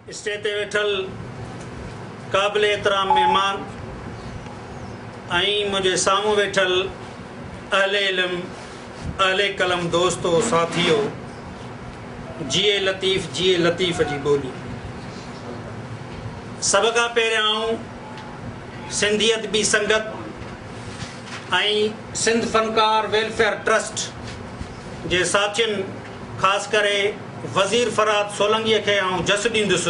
Stage تي ويٺل قابل احترام مهمان ۽ منهنجي سامهون ويٺل اهل علم اهل قلم دوستو ساٿيو جيئي لطيف جيئي لطيف جي ٻولي سڀ کان پهريان آئون سنڌي ادبي سنگت ۽ سنڌ فنڪار ويلفيئر ٽرسٽ جي ساٿين خاص ڪري وزير فرهاد سولنگيء کي آئون جس ڏيندس،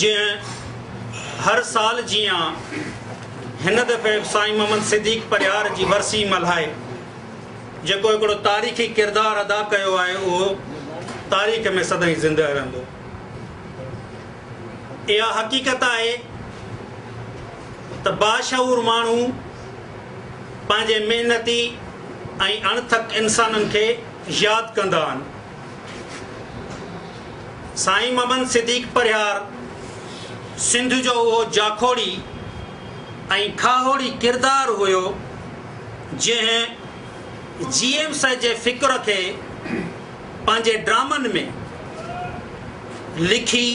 جنهن هر سال جيان هن دفعي به سائين محمد صديق پرهيار جي ورسي ملهائي جيڪو هڪڙو تاريخي ڪردار ادا ڪيو آهي اهو تاريخ ۾ سدائين زندهه رهندو. اها حقيقت آهي ته باشعور ماڻهو پنهنجي محنتي ۽ اڻٿڪ انسانن کي ياد ڪندا آهن. سائين ممن صديق پرهيار سنڌ جو اهو جاکوڙي ۽ کاهوڙي ڪردار هيو جنهن جي ايم سيد جي فڪر کي پنهنجي ڊرامن ۾ لکي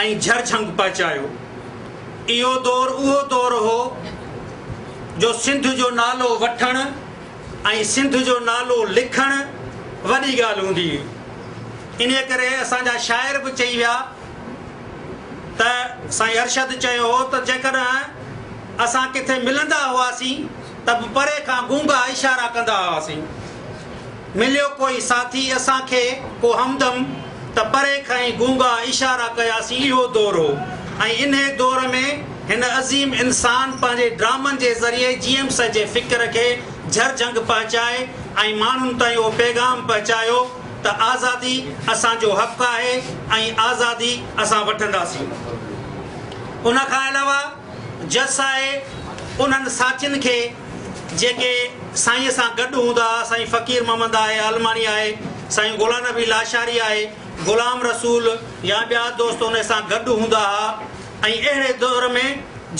۽ جھر جھنگ پهچايو. اهو دور اهو دور هو جو سنڌ جو نالو وٺڻ ۽ سنڌ جو نالو لکڻ وڏي ڳالهه هوندي هئي. انهيء ڪري اسان جا شاعر به چئي ويا ته سائين ارشد چيو هو ته جيڪڏهن اسان ڪٿي ملندا هئاسين ته به پري کان گونگا اشارا ڪندا هئاسين. مليو ڪوئي ساٿي اسان کي ڪو همدم ته پري کان ئي گونگا اشارا ڪياسين اهو دور هو ۽ انهي دور ۾ هن عظيم انسان پنهنجي ڊرامن جي ذريعي جي ايم سي جي فڪر کي جهر جهنگ پهچائي ۽ ماڻهن تائين اهو پيغام پهچايو ته آزادي اسان جو حق آهي ۽ آزادي اسان وٺنداسين ان کان علاوه جس آء انهن ساٿين کي جيڪي سائينء سان گڏ هوندا ها، سائين فقير محمد آء عالماڻي آء، سائين غلام نبي لاشاري آء، غلام رسول يا ٻيا دوست انهن سان گڏ هوندا ها ۽ اهڙي دؤر ۾،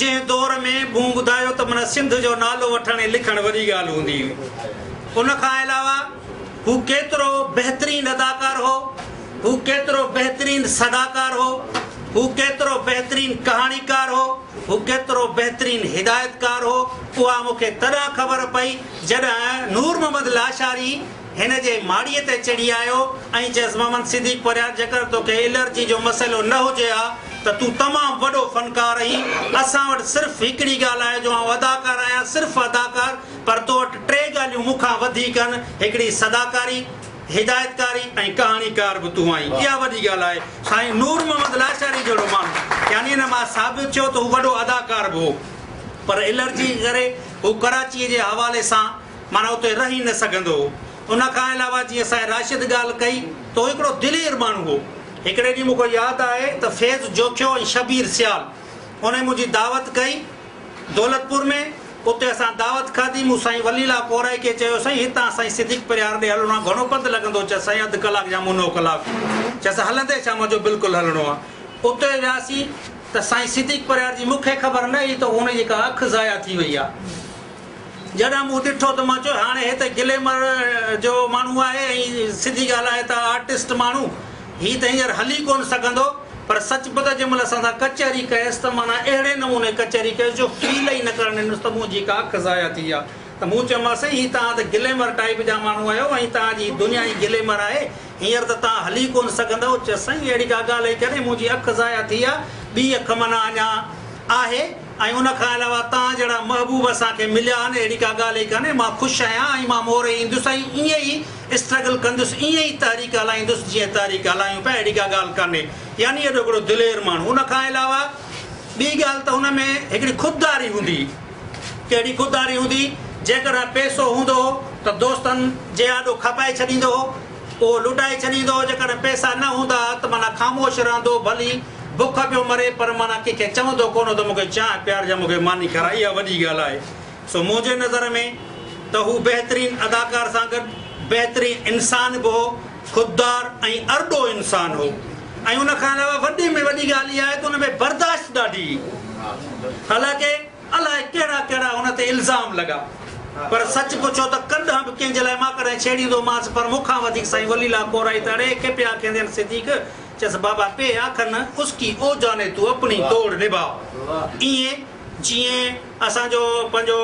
جنهن دؤر ۾ مون ٻڌايو ته من سنڌ جو نالو وٺڻ ۽ لکڻ وڏي ڳالهه هوندي هئي. ان کان علاوه هو ڪيترو بهترين اداڪار هو. هو ڪيترو بهترين سگاڪار هو، هو ڪيترو بهترين ڪهاڻيڪار هو، هو ڪيترو بهترين هدايتڪار هو، اها مون کي تڏهن خبر پئي، جڏهن نور محمد لاشاري هن جي ماڙيء تي چڙهي آيو ۽ چيس، محمد صديق پرهيار جيڪر توکي الرجي جو مسئلو نه هجي ها ته تون تمام وڏو فنڪار آهين، اسان وٽ صرف هڪڙي ڳالهه آهي جو آئون اداڪار آهيان، صرف اداڪار، پر تو وٽ ٽي ڳالهيون مون کان وڌيڪ آهن، هڪڙي سگاڪاري. هدايتڪاري ۽ ڪهاڻيڪار به تون آهين اها وڏي ڳالهه آهي سائين نور محمد لاچاري جهڙو ماڻهو يعني هن مان ثابت ٿيو ته هو وڏو اداڪار به هو پر الرجي ڪري هو ڪراچي جي حوالي سان معنيٰ اتي رهي نه سگهندو هو ان کان علاوه جيئن سائين راشد ڳالهه ڪئي ته هو هڪڙو دلير ماڻهو هو هڪڙي ڏينهن مون کي ياد آهي ته فيض جوکيو ۽ شبير سيال انهن منهنجي دعوت ڪئي دولتپور ۾، اتي اسان دعوت کاڌي، مون سائين ولي الله پورهئي کي چيو سائين هتان سائين صديق پرهيار ڏي هلڻو آهي گهڻو پنڌ لڳندو چيس سائين اڌ ڪلاڪ يا منو ڪلاڪ چيس هلندي شام جو بلڪل هلڻو آهي اتي وياسين ته سائين صديق پرهيار جي مون کي خبر نه هئي ته هن جي ڪا اک ضايع ٿي وئي آهي جڏهن مون ڏٺو ته مان چيو هاڻي هي ته گليمر جو ماڻهو آهي ۽ سڌي ڳالهه آهي ته آرٽسٽ ماڻهو هي ته هينئر هلي ڪونه سگهندو، پر سچ به ته جنهن مهل اسان سان ڪچهري ڪيس ته معنيٰ اهڙي نموني ڪچهري ڪيس جو فيل ئي نه ڪرڻ ڏنس ته منهنجي ڪا اک ضايع ٿي ويا ته مون چيومانس سائين هي توهان ته گليمر ٽائيپ جا ماڻهو آهيو ۽ توهان جي دنيا ئي گليمر آهي هينئر ته توهان هلي ڪونه سگهندؤ چيس سائين اهڙي ڪا ڳالهه ئي ڪانهي منهنجي اک ضايع ٿي ويا ٻي اک معنيٰ اڃا آهي ۽ ان کان علاوه توهان جهڙا محبوب اسان کي مليا آهن اهڙي ڪا ڳالهه ئي ڪانهي مان خوش آهيان ۽ مان موري ايندس ۽ ائين ئي اسٽرگل ڪندس ائين ئي تحريڪ هلائيندس جيئن تحريڪ هلايون پيا اهڙي ڪا ڳالهه ڪانهي يعني اهڙو هڪڙو دلير ماڻهو ان کان علاوه ٻي ڳالهه ته ان ۾ هڪڙي خودداري هوندي ڪهڙي خودداري هوندي جيڪڏهن پيسو هوندو هو ته دوستن جي آڏو کپائي ڇڏيندو هو اهو لٽائي ڇڏيندو هو جيڪڏهن پيسا نه هوندا ها ته معنيٰ خاموش رهندو ڀلي بک پيو مري پر معنيٰ ڪنهن کي چوندو ڪونه هو ته مون کي چانهه پيارجانء مون کي ماني کارائي اها وڏي ڳالهه آهي. سو منهنجي نظر ۾ ته هو بهترين اداڪار سان گڏ بهترين انسان به هو، خوددار ۽ ارڏو انسان هو ۽ ان کان علاوه وڏي ۾ وڏي ڳالهه اها آهي ته ان ۾ برداشت ڏاڍي هئي. حالانڪه الاء ڪهڙا ڪهڙا هن تي الزام لڳا پر سچ پڇو ته ڪڏهن به ڪنهن جي لاء مان ڪڏهن ڇيڙيندو مانس پر مون کان وڌيڪ سائين ولي الله ڪورائي ته اڙي ڪي پيا کيندين صديق چيس بابا پي آکن اس ڪي او جاني تو اپڻي توڙ نڀاء ائين جيئن اسان جو پنهنجو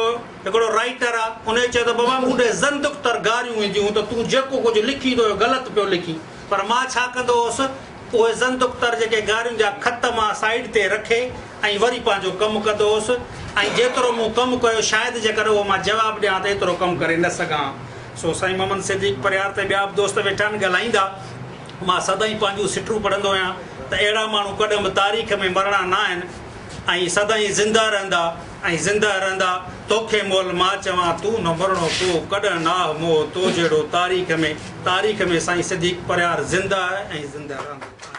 هڪڙو رائيٽر آ انهي چيو ته بابا مون ڏي زندق تر گاريون اينديون ته تون جيڪو ڪجهه لکين ٿو اهو غلط پيو لکين پر مان ڇا ڪندو هوس اهي زندق تر جيڪي گاريون جا خط مان سائيڊ تي رکي ۽ وري پنهنجو ڪم ڪندو هوس ۽ جيترو مون ڪم ڪيو شايد جيڪڏهن اهو مان جواب ڏيان ته ايترو ڪم ڪري نه سگهان سو سائين محمد صديق پرهيار ته ٻيا به دوست ويٺا آهن ڳالهائيندا مان سدائين پنهنجون سٽون پڙهندو آهيان ته اهڙا ماڻهو ڪڏهن به تاريخ ۾ مرڻا نه آهن. ۽ سدائين زنده رهندا ۽ زنده رهندا توکي مول مان چوان تون نه مرڻو ڪو ڪڏهن ناهه مئو تو جهڙو تاريخ ۾ تاريخ ۾ سائين صديق پرهيار زنده آهي ۽ زنده رهندو.